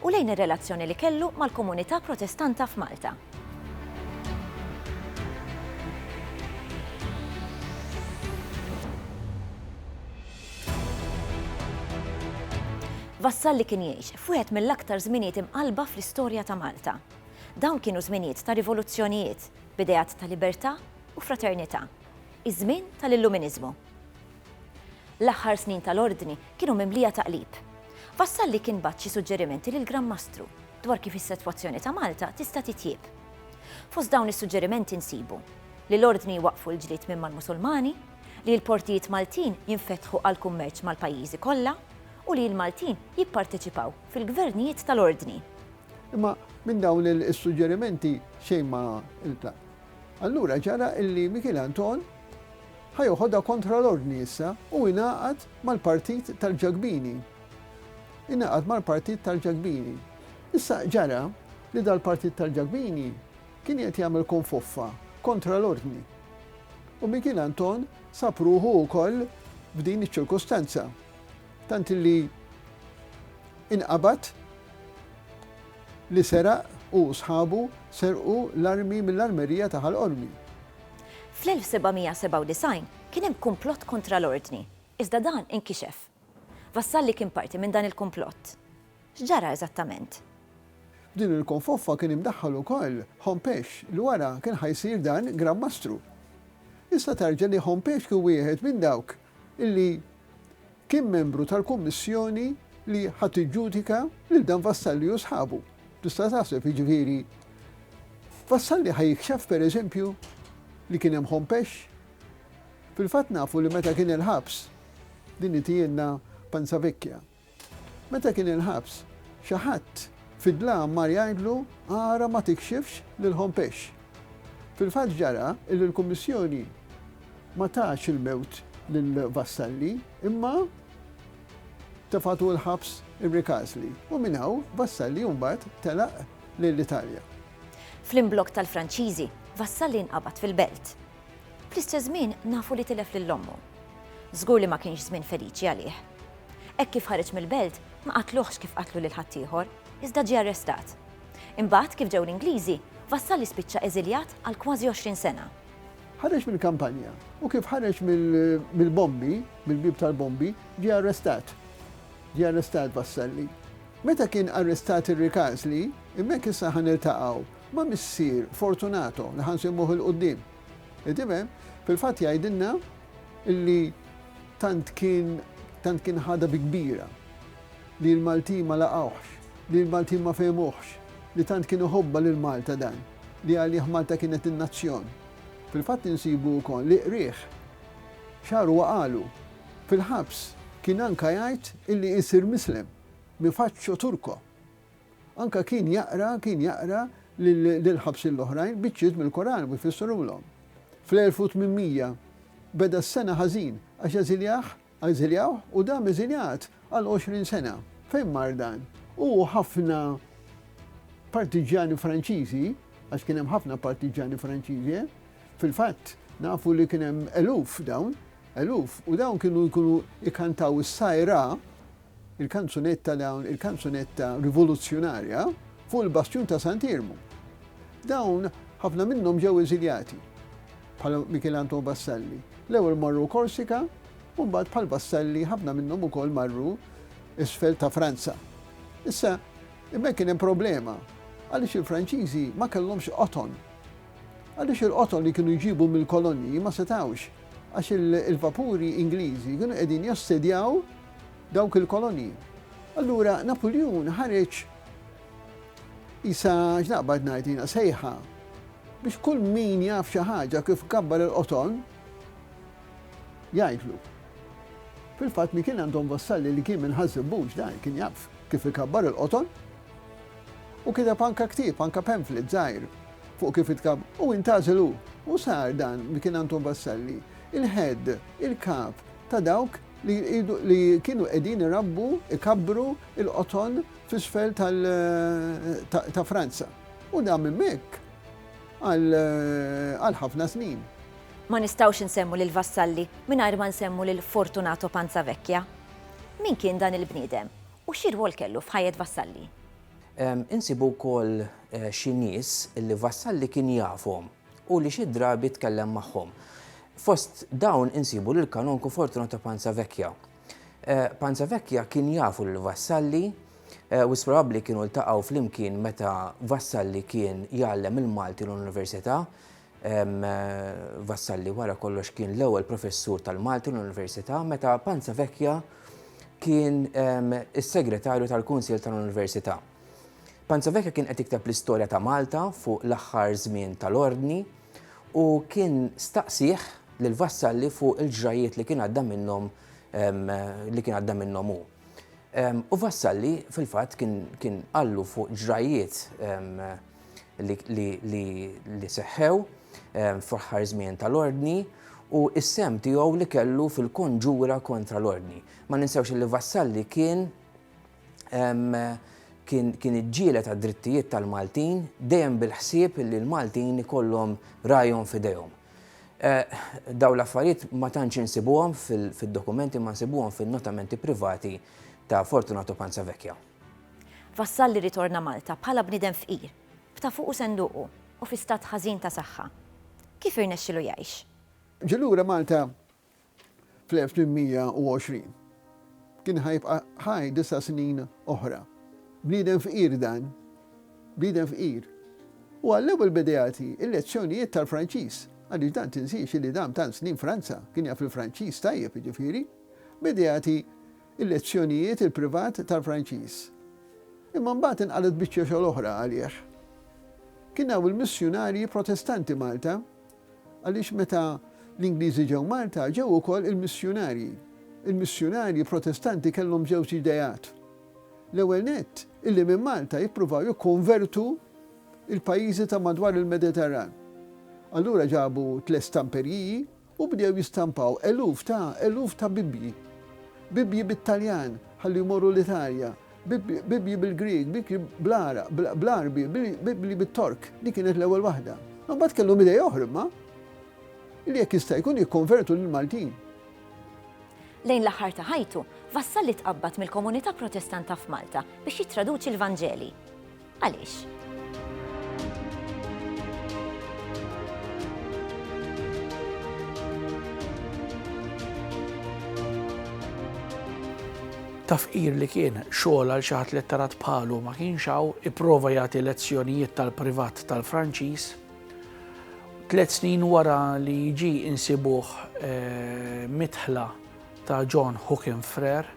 u lejn ir-relazzjoni li kellu mal-komunità Protestanta f'Malta. Vassalli kien jgħix f'wieħed mill-aktar żminijiet imqallba fl-istorja ta' Malta. Dawn kienu żminijiet ta' rivoluzzjonijiet, b'ideat ta' libertà u fraternità, iż-żmien tal-Illuminiżmu. L-aħħar snin tal-Ordni kienu mimlija taqlib. Vassalli kien bagħat xi suġġerimenti lill-Gran Mastru dwar kif is-setwazzjoni ta' Malta tista' titjieb. Fost dawn is-suġġerimenti nsibu, li l-Ordni jwaqqfu l-ġlied minn mal-Musulmani, li l-portijiet Maltin jinfetħu għall-kummerċ mal-pajjiżi kollha, u li l-Maltin jipparteċipaw fil-gvernijiet tal-Ordni. Imma minn dawn is-suġġerimenti xejn ma ntlaqt. Allura ġara illi Mikiel Anton Ħa joħodha kontra l-Ordni issa u ingħaqad mal-Partit tal-Ġakbini. Ingħaqad mal-Partit tal-Ġakbini. Issa ġara li dal-Partit tal-Ġakbini kien qiegħed jagħmel konfoffa kontra l-Ordni. U Mikiel Anton sab ruħu wkoll f'din iċ-ċirkustanza. Tant li inqabad li seraq u sħabu serqu l-armi mill-armerija ta' Ħal Qormi. Fl-1797 kien hemm kumplott kontra l-Ordni, iżda dan inkixef. Vassalli kien parti minn dan il-kumplott. X'ġara eżattament? F'din il-konfoffa kien imdaħħal ukoll Hompesch li wara kien ħa jsir dan Gran Mastru. Jista' tarġa li Hompesch kien wieħed minn dawk li Kien membru tal-kummissjoni li ħa tiġġudika lil dan Vassalli u sħabu. Tista' taħseb, jiġifieri, Vassalli ħa jikxef pereżempju li kien hemm ħompex? Fil-fatt nafu li meta kien il-ħabs, din itijielna Panza Vecchia, meta kien il-ħabs, xi ħadd fid-dlam mar jgħidlu ara ma tikxifx lil ħompex. Fil-fatt ġara li l-Kummissjoni ma tatx il-mewt lil Vassalli imma tefgħatu l-ħabs irrikasli u minn hawn Vassalli mbagħad telaq lejn l-Italja. Fl-imblokk tal-Franċiżi, Vassalli nqabad fil-Belt. Fl-istess żmien nafu li tilef lil ommu. Żgur li ma kienx żmien feliċi għalih. Hekk kif ħareġ mill-Belt ma qatluhx kif qatlu lil ħaddieħor, iżda ġie arrestat. Imbagħad, kif ġew l-Ingliżi, Vassalli spiċċa eżiljat għal kważi 20 sena. Ħareġ mill-kampanja u kif ħareġ mill-bombi, mill-bieb tal-bombi, ġie arrestat. Ġie arrestat Vassalli. Meta kien arrestat ir-Rikasli, hemmhekk issa ħa niltaqgħu ma' missier Fortunato li ħa nsimmuh il-quddiem. Qed tifhem? Fil-fatt jgħidilna li tant kien tant kien ħadha bi kbira. li l-Maltin ma laqgħuhx, li l-Maltin ma fehmuhx, li tant kien iħobbha lil Malta dan, li għalih Malta kienet in-nazzjon. Fil-fatt insibu wkoll li qrieh. Xahar huwa qalu. Fil-ħabs kien anka jgħid illi jsir Mislem, mi faccio Turco. Anka kien jaqra, kien jaqra lill-ħabsin l-oħrajn biċċiet mill-Koran u jfissirhomlhom. Fl-1800 beda s-sena ħażin għax eżiljah Ażiljawh u dam eżiljat għal għoxrin sena. Fejn mar dan? Hu u ħafna partiġġjani Franċiżi, għax kien hemm ħafna partiġġjani Franċiżi, eh? fil-fatt nafu li kien hemm eluf dawn, eluf, u dawn kienu jkunu ikantaw is-sajra Il-kanzunetta dawn il-kanzunetta rivoluzzjonarja fuq il-bastjun ta' Sant Iermu. Dawn ħafna minnhom ġew eżiljati bħal Michel Anton Vassalli. L-ewwel marru Korsika u mbagħad bħal Vassalli ħafna minnhom ukoll marru isfel ta' Franza. Issa imma kien hemm problema għaliex il-Franċiżi ma kellhomx qoton. Għaliex il-qoton li kienu jġibu mill-kolonji ma setawx għax il-vapuri Ingliżi kienu qegħdin jossedjaw dawk il-kolonji. Allura Napuljun ħareġ isa x'naqbad ngħid jiena sejħa biex kull min jaf xi ħaġa kif gabbar il-qoton jgħidlu. Fil-fatt mi kien għandhom vassalli li kien minn ħażibux dan kien jaf kif ikabbar il-qoton u kida panka ktib, panka pamphlet zaħir fuq kif itkab u intażilu u sar dan li kien Anton Vassalli, il-head, il-kap ta' dawk li kienu qegħdin irabbu, ikabbru il-qoton f'isfel ta' Franza. U dam hemmhekk għal ħafna snin. Ma nistgħux insemmu lil Vassalli mingħajr ma nsemmu lil Fortunato Panzavecchia. Min kien dan il-bniedem u xi rwol kellu f'ħajjet Vassalli? Insibu wkoll xi nies li Vassalli kien jafhom. u li xi drabi tkellem magħhom. Fost dawn insibu lill-Kanonku Fortunato Panza Vecchia. Panza Vecchia kien jafu lil Vassalli u probabbli kienu ltaqgħu flimkien meta Vassalli kien jgħallem il-Malti l-Università. Vassalli wara kollox kien l-ewwel professur tal-Malti l-Università meta Panza Vecchia kien is-segretarju tal-Kunsill tal-Università. Panzovecchio kien qed jikteb l-istorja ta' Malta fuq l-aħħar żmien tal-Ordni u kien staqsih lil Vassalli fuq il-ġrajjiet li kien għadda minnhom ehm, li kien għadda minnhom hu. Ehm, u Vassalli fil-fatt kien qallu fuq ġrajjiet ehm, li seħħew ehm, fl-aħħar żmien tal-ordni u s-sem tiegħu li kellu fil-konġura kontra l-ordni. Ma ninsewx li Vassalli kien kien iġġieled għad-drittijiet tal-Maltin dejjem bil-ħsieb li l-Maltin ikollhom rajhom f'idejhom. Eh, daw l-affarijiet ma tantx insibuhom fil-dokumenti ma nsibuhom fin-notamenti privati ta' Fortunato Panzavecchia. Vassal li ritorna Malta bħala bniedem fqir, b'ta' fuqu senduqu u fi stat ħażin ta' saħħa. Kif irnexxilu jgħix? Ġie lura Malta fl-1820. Kien ħa jibqa' ħaj disa' snin oħra. Bniedem fqir dan. Bniedem fqir. U għallew il-Bedeati il-lezzjonijiet tal-Franċiż, għaliex dan tinsiex li dam tant snin Franza, kien jaf il-Franċiż tajjeb jiġifieri. Bedeati il-lezzjonijiet il-privat tal-Franċiż. Imma mbagħad inqalgħet biċċa xogħol oħra għalih. Kien hawn il-missjunarji Protestanti Malta. Għaliex meta l-Ingliżi ġew Malta, ġew ukoll il-missjunarji. Il-missjunarji Protestanti kellhom żewġ ideat. L-ewwel nett, illi minn Malta jippruvaw jikkonvertu il-pajjiżi ta' madwar il-Mediterran. Allura ġabu tliet stamperjiji u bdew jistampaw eluf ta' eluf ta' Bibbji. Bibbji bit-Taljan ħalli jmorru l-Italja, Bibbji bil-Grieg, Bibbji bl-Għarab, bl-Għarbi, Bibbji bit-Tork, dik kienet l-ewwel waħda. Imbagħad kellhom idea oħra imma li jekk jista' jkun jikkonvertu lill-Maltin. Lejn l-aħħar ta' ħajtu, Vassalli tqabbad mill-komunità Protestanta f'Malta biex jittraduċi l-Vanġeli. Għaliex? ta' fqir li kien xogħol għal xi ħadd li tarat bħalu ma kienx hawn, ipprova jagħti lezzjonijiet tal-privat tal-Franċiż. Tliet snin wara li jiġi insibuh eh, mitħla ta' John Hookin Frere,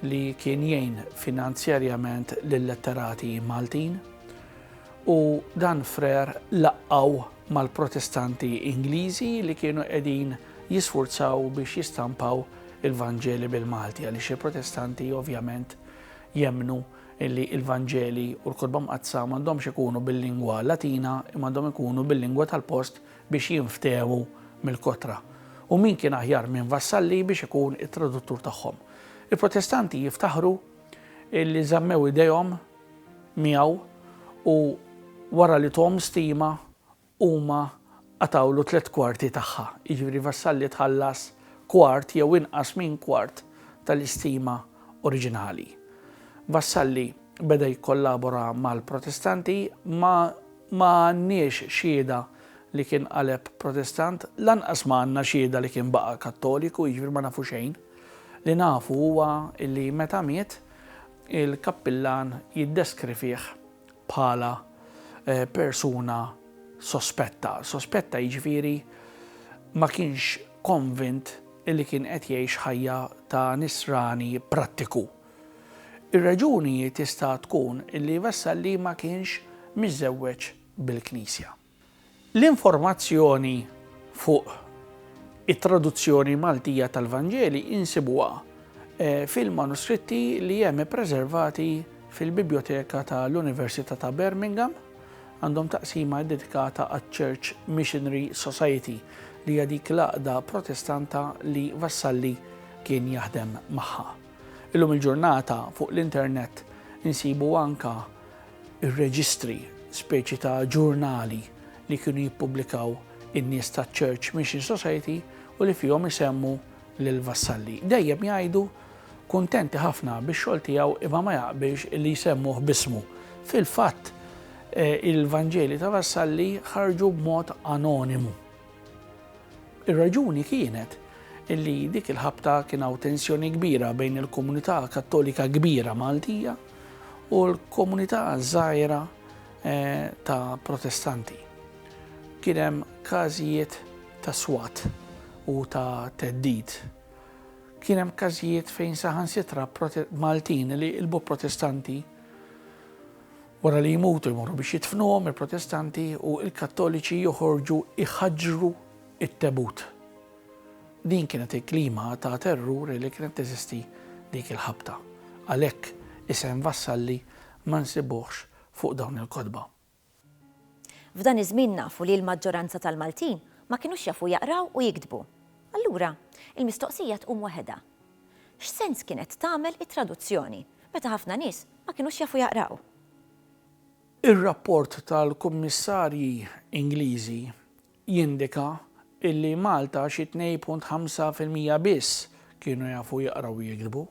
li kien jgħin finanzjarjament lil-letterati Maltin, u dan Frère laqqgħu mal-Protestanti Ingliżi li kienu qegħdin jisfurzaw biex jistampaw il-Vanġeli bil-Malti għaliex il-Protestanti ovvjament jemmnu li l-Vanġeli u l-Kotba Mqaddsa m'għandhomx ikunu bil-lingwa Latina imma għandhom ikunu bil-lingwa tal-post biex jinftehmu mill-kotra. U min kien aħjar minn Vassalli biex ikun it-traduttur tagħhom? Il-Protestanti jiftaħru li żammew idejhom miegħu u wara li thom stima huma qatgħulu tliet kwarti tagħha, jiġifieri Vassalli tħallas kwart jew inqas minn kwart tal-istima oriġinali. Vassalli beda jikkollabora mal-Protestanti ma ma għandniex xhieda li kien qaleb Protestant, lanqas ma għandna xhieda li kien baqa' Kattoliku, jiġifieri ma nafu xejn. Li nafu huwa li meta miet, il-kappillan jiddeskrivih bħala persuna sospetta. Sospetta jiġifieri ma kienx konvint li kien qed jgħix ħajja ta' nisrani prattiku. Ir-raġuni tista' tkun li Vassalli ma kienx miżżewweġ bil-Knisja. L-informazzjoni fuq it-traduzzjoni Maltija tal-Vanġeli insibuha fil-manuskritti li hemm ippreservati fil-Bibljoteka ta' l-Università ta' Birmingham. Għandhom taqsima ddedikata għaċ-Church Missionary Society li hija dik l-għaqda Protestanta li Vassalli kien jaħdem magħha. Illum il-ġurnata fuq l-internet insibu anke ir-reġistri, speċi ta' ġurnali li kienu jippubblikaw in-nies taċ-Church Mission Society u li fihom isemmu lil Vassalli. Dejjem jgħidu kuntenti ħafna bix-xogħol tiegħu imma ma jaqbilx li jsemmuh b'ismu. Fil-fatt, eh, il-Vanġeli ta' Vassalli ħarġu b'mod anonimu. Ir-raġuni kienet illi dik il-ħabta kien hawn tensjoni kbira bejn il-komunità kattolika kbira Maltija u l-komunità żgħira eh, ta' protestanti. Kien hemm każijiet ta' swat u ta' teddid. Kien hemm każijiet fejn saħansitra Maltin li ilbu protestanti wara li jmutu jmorru biex jitfnuhom il-protestanti u il-kattoliċi joħorġu iħaġru it-tebut. Din kienet il-klima ta' terrur li kienet teżisti dik il-ħabta. Għalhekk isem Vassalli ma nsibuhx fuq dawn il-kotba. F'dan iż-żmien nafu li l-maġġoranza tal-Maltin ma kinux jafu jaqraw u jiktbu. Allura, il-mistoqsija tqum waħedha. X'sens kienet tagħmel it-traduzzjoni meta ħafna nies ma kinux jafu jaqraw? Ir-rapport tal-kummissarji Ingliżi jindika illi Malta xi 2.5 fil-mija biss kienu jafu jaqraw u jiktbu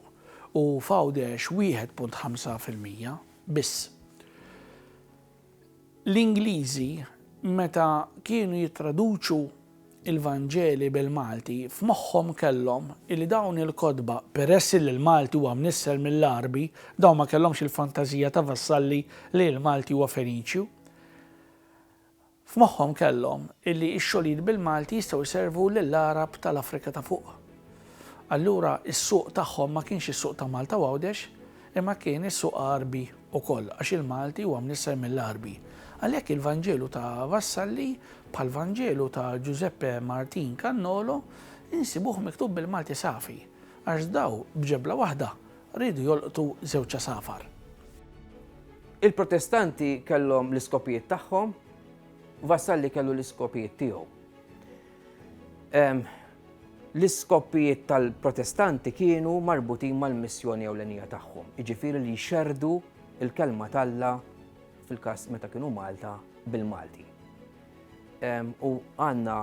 u f'Għawdex 1.5 fil-mija biss. L-Ingliżi meta kienu jittraduċu l-Vanġeli bil-Malti f'moħħhom kellhom illi dawn il-kotba, peress illi l-Malti huwa mnissel mill-Għarbi, dawn ma kellhomx il-fantażija ta' Vassalli li l-Malti huwa Feniċju. F'moħħhom kellhom illi x-xogħlijiet bil-Malti jistgħu jservu lill-Għarab tal-Afrika ta' Fuq. Allura s-suq tagħhom ma kienx is-suq ta' Malta u Għawdex, imma kien is-suq Għarbi ukoll għax il-Malti huwa mnisser mill-Għarbi. Għalhekk il-Vanġelu ta' Vassalli, bħall-Vanġelu ta' Ġużeppe Martin Cannolo, insibuh miktub bil-Malti safi, għax daw b'ġebla waħda Riedu jolqtu żewġ għasafar. Il-Protestanti kellhom l-iskopijiet tagħhom, Vassalli kellu l-iskopijiet tiegħu. L-iskopijiet tal-Protestanti kienu marbutin mal-missjoni ewlenija tagħhom, jiġifieri li jxerrdu l-kelma t'Alla fil-każ meta kienu Malta bil-Malti. U għandna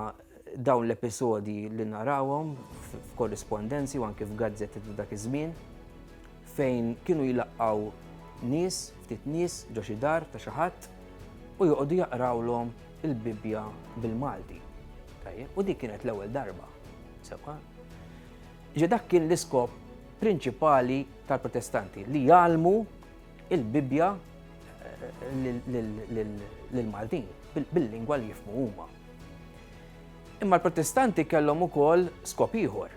dawn l-episodji li narawhom f'korrispondenzi u anke f'gazzetti ta' dak iż-żmien fejn kienu jilaqgħu nies, ftit nies ġo xi dar ta' xi ħadd u joqogħdu jaqrawlhom il-Bibbja bil-Malti. U dik kienet l-ewwel darba. Sewa. Ġi dak kien l-iskop prinċipali tal-protestanti li jgħalmu il-Bibbja lill-Maltin bil-lingwa li jifmu huma. Imma l-Protestanti kellhom ukoll skop ieħor.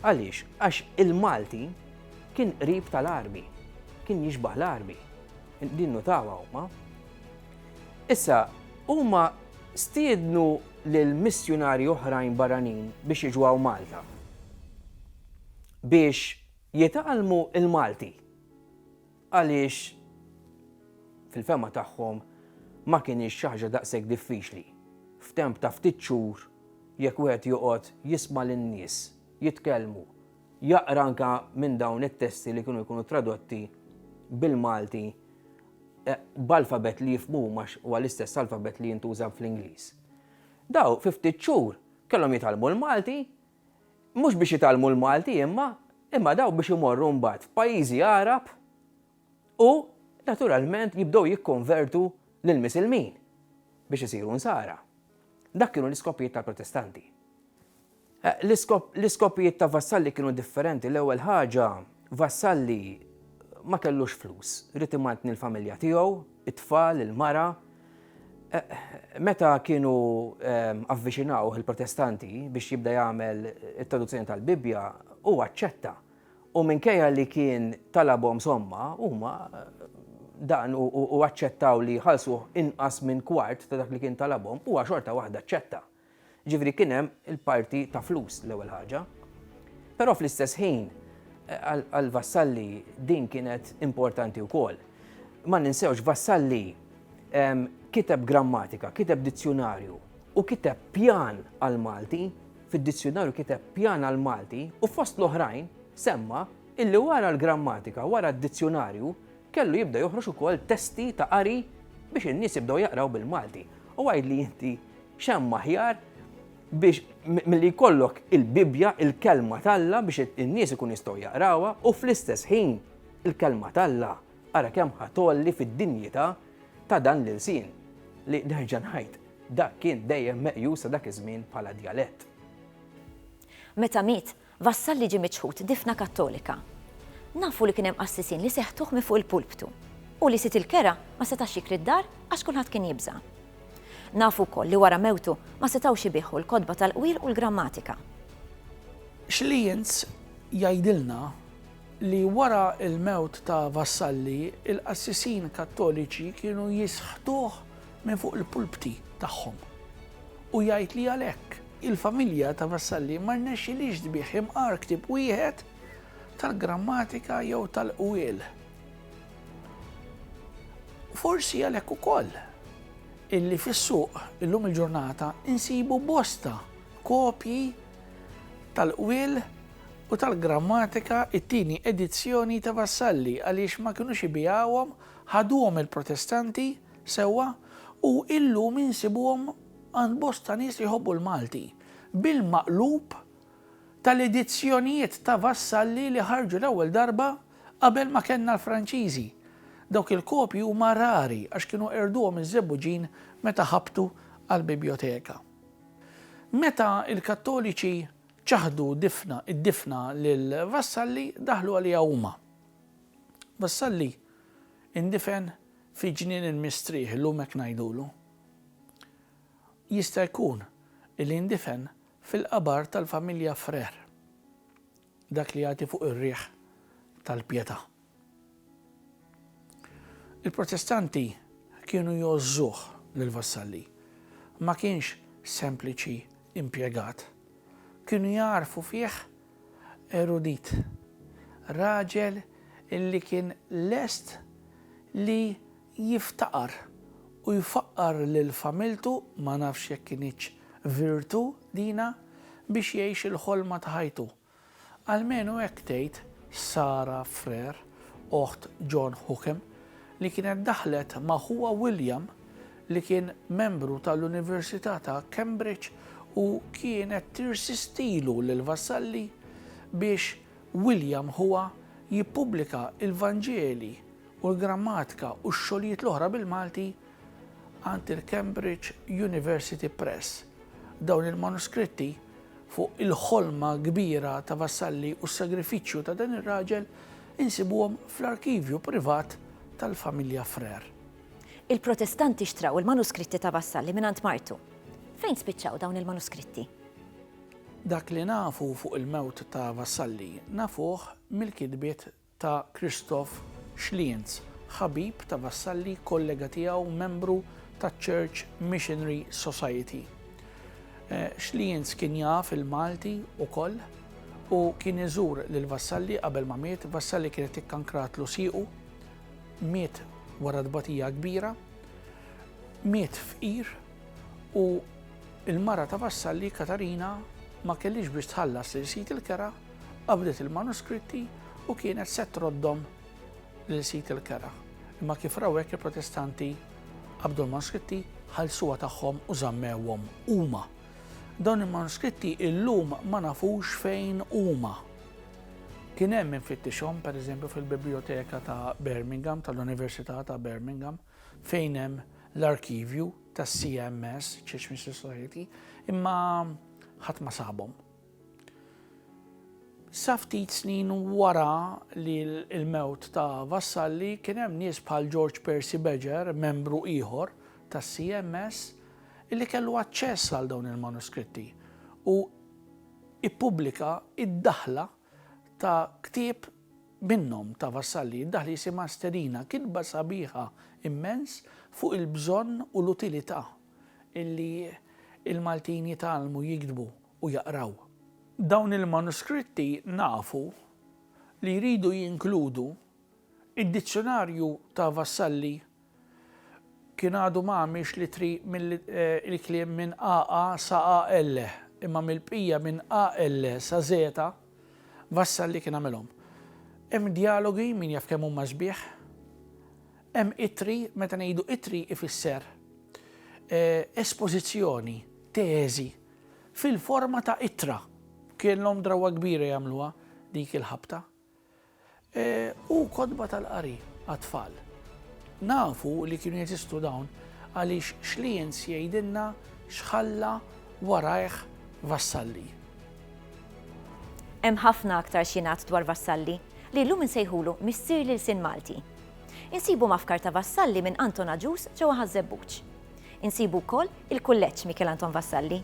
Għaliex? Għax il-Malti kien qrib tal-arbi, kien jixbaħ l-arbi, din nutawa huma. Issa, huma stiednu lil missjunari oħrajn barranin biex jiġu Malta. Biex jitgħallmu il-Malti. Għaliex fil-fehma tagħhom ma kinitx xi ħaġa daqshekk diffiċli f'temp ta' ftit xhur jekk wieħed joqgħod jisma' lin-nies jitkellmu, jaqra anke minn dawn it-testi li kienu jkunu tradotti bil-Malti b'alfabett li jifhmu huma għax huwa l-istess alfabett li jintuża fl-Ingliż. Dawn fi ftit xhur kellhom jitgħallmu l-Malti mhux biex jitgħallmu l-Malti imma imma dawn biex imorru mbagħad f'pajjiżi Għarab u naturalment jibdew jikkonvertu lill-Misilmin biex isiru Nsara. Dak kienu l-iskopijiet tal-Protestanti. L-iskopijiet ta' Vassalli kienu differenti, l-ewwel ħaġa Vassalli ma kellux flus, ried imantni l-familja tiegħu, it-tfal, il-mara. Meta kienu avviċinawh il-Protestanti biex jibda jagħmel it-traduzzjoni tal-Bibbja, hu aċċetta. U minkejja li kien talabhom somma, huma dan u aċċettaw li ħalsuh inqas minn kwart ta' dak li kien talabhom, huwa xorta waħda aċċetta. Jiġifieri kien hemm il-parti ta' flus l-ewwel ħaġa. Però fl-istess ħin għal Vassalli din kienet importanti wkoll. Ma ninsewx Vassalli kiteb grammatika, kiteb dizzjunarju u kiteb pjan għall-Malti, fid-dizzjunarju kiteb pjan għall-Malti u fost l-oħrajn semma illi wara l-grammatika, wara d-dizzjunarju, Kellu jibda joħroġ ukoll testi ta' qari biex in-nies jibdew jaqraw bil-Malti. U għidli inti x'hemm aħjar biex milli jkollok il-Bibbja, il-Kelma t'Alla biex in-nies ikunu jistgħu jaqrawha u fl-istess ħin il-Kelma t'Alla ara kemm ħa tgħolli fid-dinjità ta' dan l-ilsien li nerġa' ngħid dak kien dejjem meqjus sa dak iż-żmien bħala djalett. Meta miet, Vassalli ġie miċħud difna Kattolika. Nafu li kien hemm qassisin li seħtuh minn fuq il-pulptu u li Sid il-Kera ma setax jikri d-dar għax kulħadd kien jibża'. Nafu wkoll li wara mewtu ma setgħux ibiegħu l-kotba tal-qwir u l-grammatika. Schlienz jgħidilna li wara l-mewt ta' Vassalli l-qassisin Kattoliċi kienu jisħtuh minn fuq il-pulpti tagħhom u jgħid li għalhekk, Il-familja ta' Vassalli ma rnexxilhiex tbigħ imqar ktieb wieħed tal-grammatika jew tal-qwiel. Forsi għalhekk ukoll illi fis-suq illum il-ġurnata insibu bosta kopji tal-qwiel u tal-grammatika it-tieni edizzjoni ta' Vassalli għaliex ma kinux ibiegħuhom, ħaduhom il-Protestanti sewwa u illum insibuhom Għand bosta nies li jħobbu l-Malti, bil-maqlub tal-edizzjonijiet ta' Vassalli li ħarġu l-ewwel darba qabel ma kellna l-Franċiżi. Dawk il-kopji huma rari għax kienu qerduhom iż-Żebbuġin meta ħabtu għall-bibjoteka. Meta l-Kattoliċi ċaħdu difna d-difna lil Vassalli daħlu għaliha huma. Vassalli indifen fi Ġnien il-Mistrieħ illum hekk ngħidulu. Jista' jkun li ndifen fil-qabar tal-familja Frère, dak li jagħti fuq ir-riħ tal-Pietà. Il-Protestanti kienu jgħożżuh lil Vassalli. Ma kienx sempliċi impjegat. Kienu jagħrfu fih erudit, raġel li kien lest li jiftaqar u jfaqqar lil familtu, ma nafx jekk kinitx virtu dina, biex jgħix il-ħolma ta' ħajtu. Almenu hekk tgħid Sara Freer, oħt John Hookham, li kienet daħlet ma' ħuha William li kien membru tal-Università ta' Cambridge u kienet tirsistilu lil Vassalli biex William ħuha jippubblika l-Vanġeli u l-Grammatika u x-xogħlijiet l-oħra bil-Malti għand il-Cambridge University Press. Dawn il-manuskritti fuq il-ħolma kbira ta' Vassalli u s-sagrifiċċju ta' dan ir-raġel insibuhom fl-arkivju privat tal-familja Frère. Il-Protestanti xtraw il-manuskritti ta' Vassalli mingħand martu. Fejn spiċċaw dawn il-manuskritti? Dak li nafu fuq il-mewt ta' Vassalli nafuh mill-kitbiet ta' Christoph Schlienz, ħabib ta' Vassalli, kollega tiegħu u membru taċ-Church Missionary Society. Schlienz kien jaf il-Malti wkoll u kien iżur lil Vassalli qabel ma miet. Vassalli kienet ikkankratlu siequ, miet wara tbatija kbira, miet fqir u l-mara ta' Vassalli, Katarina, ma kellhiex biex tħallas lil sid il-kera, Qabdet il-manuskritti u kienet se troddhom lil Sid il-Kera. Imma kif raw hekk il-Protestanti qabdu l-manuskritti, ħallsuha tagħhom u żammewhom huma. Dawn il-manuskritti illum ma nafux fejn huma. Kien hemm min fittixhom pereżempju fil-Bibljoteka ta' Birmingham tal-Università ta' Birmingham fejn hemm l-arkivju tas-CMS, Church Mystery Society, imma ħadd ma sabhom. Sa ftit snin wara li l-mewt ta' Vassalli kien hemm nies bħal George Percy Badger, membru ieħor tas-CMS, li kellu aċċess għal dawn il-manuskritti u ippubblika d-daħla ta' ktieb minnhom ta' Vassalli. Id-daħla jisimha Sterina, kitba sabiħa immens fuq il-bżonn u l-utilità li l-Maltin jitgħallmu jiktbu. u jaqraw. Dawn il-manuskritti nafu li jridu jinkludu id-dizzjunarju ta' Vassalli, kien għadu ma għamilx l-ittri mill-kliem minn AA sa AL, imma mill-bqija minn AL sa Zeta, Vassalli kien għamilhom. Hemm djalogi, min jaf kemm huma sbieħ, hemm ittri, meta ngħidu ittri ifisser espożizzjoni, teżi, fil-forma ta' ittra. Kellhom drawwa kbira jagħmluha dik il-ħabta. U kotba tal-qari għat-tfal. Nafu li kienu jeżistu dawn għaliex Schlienz jgħidilna x'ħalla warajh Vassalli. Hemm ħafna aktar x'jingħad dwar Vassalli, li llum insejħulu missier l-ilsien Malti. Insibu mafkar ta' Vassalli minn Anton Agius ġewwa Ħaż-Żebbuġ. Insibu wkoll il-Kulleġġ Mikiel Anton Vassalli.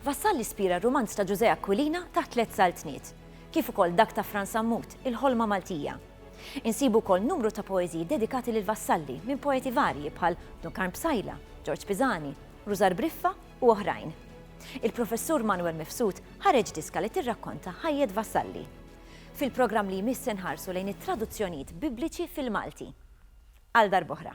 Vassalli spira r-rumanz ta' Ġużè Aquilina taħt tliet saltniet, kif ukoll dak ta' Fran Sammut, Il-Ħolma Maltija. Insibu wkoll numru ta' poeżiji dedikati lil Vassalli minn poeti varji bħal Dun Karm Psaila, Ġorġ Pisani, Rużar Briffa u oħrajn. Il-Professur Manwel Mifsud ħareġ diska li tirrakkonta ħajjet Vassalli. Fil-programm li jmiss se nħarsu lejn it-traduzzjonijiet Bibliċi fil-Malti. Għal darb'oħra.